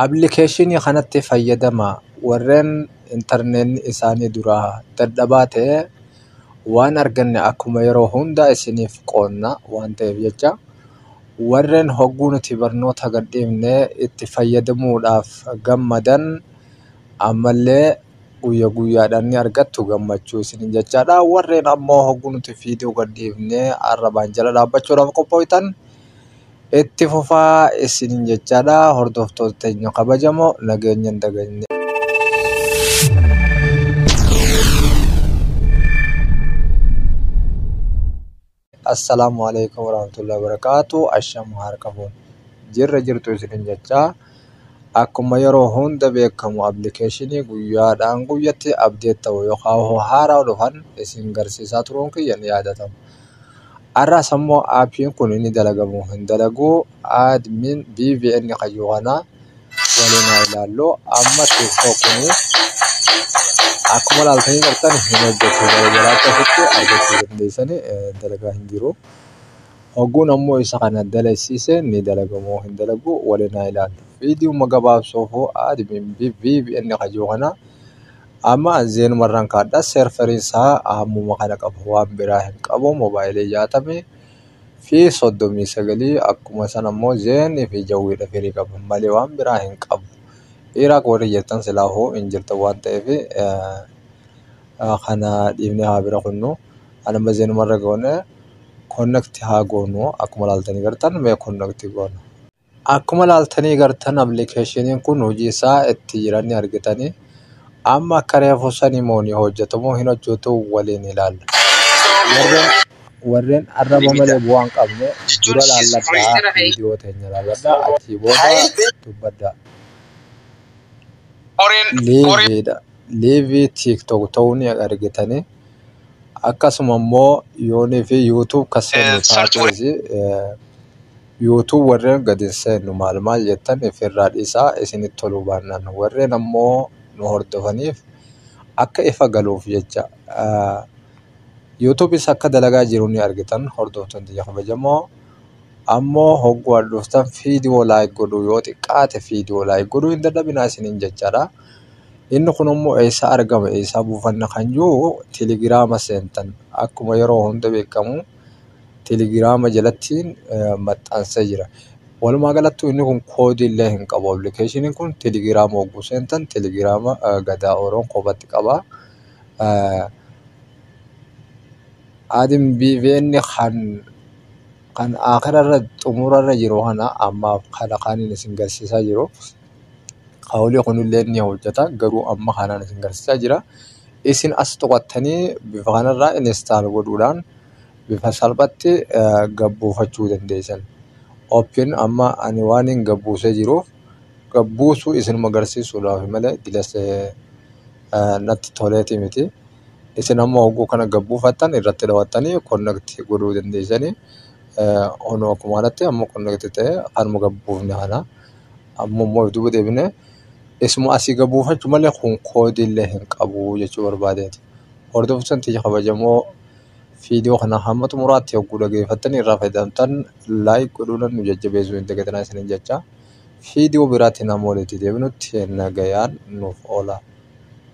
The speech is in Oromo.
Appilikeeshinii kanatti fayyadamaa warreen intarneetni isaanii duraa dadhabaa ta'e waan arganne akkuma yeroo hundaa isiniif qoodna waan ta'eef jecha warreen hogguu nuti barnoota gadhiifne itti fayyadamuudhaaf gammadan ammallee guyya guyyaadhaan ni argattu gammachuu isiniin jechaadha. Warreen ammoo hogguu nuti viidiyoo gadhiifne arrabaan jala dhaabbachuudhaaf qophooytan Itti fufaa isiniin jechaadha hordoftoota teenya kabajamoo nageenya hin dagagne. Assalaamu alaikum warahmatullahi wabarakatuh asham harka fuun jirra jirtu isiniin jechaa akkuma yeroo hunda beekamu appilikeeshinii guyyaadhaan guyyatti abdeet ta'u yookaan haaraa dhufan isin garsiisaa turuun kiyya ni yaadatama. Har'as ammoo aappiin kun ni dalaga moo hin dalagu admin BVN kayyoo kana waliin haa ilaallu. Amma tiktok kun akkuma ilaaltanii jirtan hin hojjetu gara jalaatti asitti argachuu dandeessani dalagaa hin jiru. Hogguun ammoo isa kana dalagsiise ni dalaga moo hin dalagu waliin haa ilaallu. Viidiyuma gabaabsuufuu admin BVN kayyoo kana. Amma an zeenuma irraan kaadha serferiin isaa hammuma kana qaba waan biraa hin qabu mobaayilii jaatamii fi soddomii sagalii akkuma san ammoo zeen fi jawwiidha firii qaba malee waan biraa hin qabu iraaq warri jettan silaa hoo hin jirtan waan ta'eef kana dhiifnee haa bira kunnu an amma zeenuma irra goone konnekti haa goonu akkuma laaltanii gartan mee konnekti goona. Akkuma ilaaltanii gartan application kun hojii isaa itti jiran ni argitanii. Amma akka reefu sanii moo ni hojjetu moo hin hojjetu waliin ilaalla. Warreen- Warreen arraba malee bu'aa hin qabne dura laalladhaa viidiyoo teenya laalladhaa achii booda dubbadhaa. Liiviidha. Liivii TikTok ta'uu ni argitanii. Akkasuma immoo yoonii fi YouTube kan seenu taateesi eh, Youtube warren gad hin seennu maal maal jettan ifirraa dhisaa isinitti toluu baannaan warren ammoo nu hordofaniif akka ifa galuuf jecha Youtube isa akka dalagaa jiru ni argitan hordoftoon tiyya kabajamoo ammoo hogguu an dhuftan fiidiyoo laayik godhuu yoo xiqqaate fiidiyoo laayik godhuu hin dadhabinaa isiniin jechaadha inni kun immoo eessaa argama eessaa buufanna kan jiru telegiraama seentan akkuma yeroo hunda beekamu Telegiraama jalatti maxxansee jira. Walumaa galattuu inni kun koodii illee hin qabu. Appilikeeshiniin kun telegiraama yogguu seentan telegiraama Gadaa Oro kophaatti qaba. Aadin BVN kan akirarra xumurarra jiru kana ammaaf kana kanin isin garsiisaa jiru. Hawli kunillee ni hojjeta garuu amma kanaan isin garsiisaa jira. Isin as tuqattanii bifa kanarraa install godhuudhaan bifa salphatti gabbuufachuu dandeessan. Open amma ani waan hin gabbuusee jiruuf gabbuusuu isinuma garsiisuudhaaf malee dilasee natti toleeti miti. Isin amma hogguu kana gabbuufattan irratti dawattanii connect godhuu dandeessanii. Ono akkuma kanatti amma connect ta'ee kanuma gabbuufne kana. Amma immoo duuba deebinee isuma asii gad buufachu malee kun koodii illee hin qabu jechuu barbaadeeti. Hordoftoonni tiyya kabajamoo viidiyoo kana hamma xumuraatti hogguu dhageeffattanii irraa fayyadamtan laayik godhuudhaan nu jajjabeessuu hin dagatinaa isiniin jecha. Viidiyoo biraatiin hamma walitti deebinutti nagayaan nuuf oola.